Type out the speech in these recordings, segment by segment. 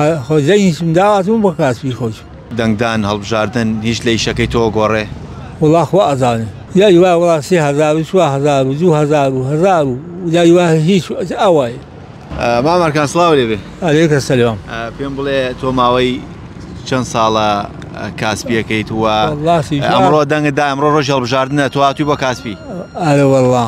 هۆزەی هیچم داواتم بۆ کاسبی خۆش. دەنگدان هەڵبژاردن هیچ لە ئیشەکەی تۆ گۆڕێ؟ وەڵا خوا ئەزانێ لای وا وەڵا سێ هەزار و چوار هەزار و دوو هەزار و هەزار و لای وا هیچ ئەوای مام ئەرکان سڵاو لێ بێ. علیک سلام. پێم بڵێ تۆ ماوەی چەند ساڵە کاسپیەکەیت و وەڵا سیجا ئەمڕۆ دەنگت دا ئەمڕۆ ڕۆژی هەڵبژاردنە تۆ هاتووی بۆ کاسپی؟ ئەرێ وەڵا.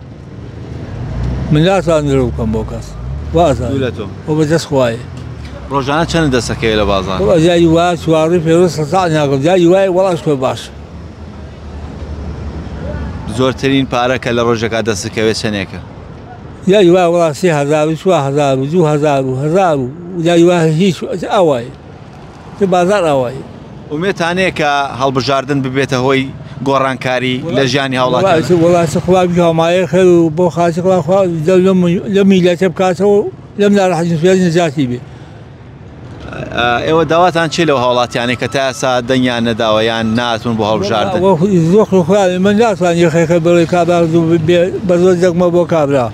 من ناتوانرە بکەم بۆ کەس وازان لە تۆ و بە دەست خوای ڕۆژانە چەند دەسەکەی لە بازار ئەزاری وا چواری پێوە سەزان ناکەم جاری وای وەڵاش پێ باش زۆرترین پارە کە لە ڕۆژەکە دەستکەوێت چەندێکە یاری وا وڵاسی هزار و چوار هزار و دوو هزار و هزار و یاری وا هیچ ئەوای تو بازار ئاوایی. ئومێد تانەیە کە هەڵبژاردن ببێتە هۆی گۆڕانکاری لە ژیانی هاوڵاتیان؟ وەڵا چ خوا بتوانمایە خێر و بۆ خاچی خوا خوا دەم لەم لەم میلەتە بکاتەوە و لەم ناراحەتی سوێن نەجاتی بێ ئێوە داواتان چی لەو هاوڵاتیانەی کە تا ئێستا دەنگیان نەداوە یان ناتون بۆ هەڵبژاردن وە زۆخ و خوارێ من ناتوان یەخێکە بڵێ کابرا زوو بێ بە زۆر دەگمە بۆ کابرا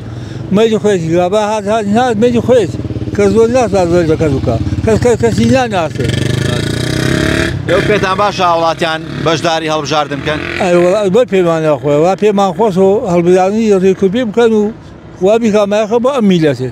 مەیلی خۆیەتی کرا با هات هات نهات مەیلی خۆیەتی کەس زۆر نازانێت زۆری بە کەس بکات کەس کەس کەسی ناناسێت ئێوە پێتان باشە هاوڵاتیان بەشداری هەڵبژاردن بکەن ئەی وەڵا ئەی بەر پێمانە خۆی وا پێمان خۆش و هەڵبژاردنی ڕێکوپێ بکەن و وا بیکا مایەخە بۆ ئەم میلەتێ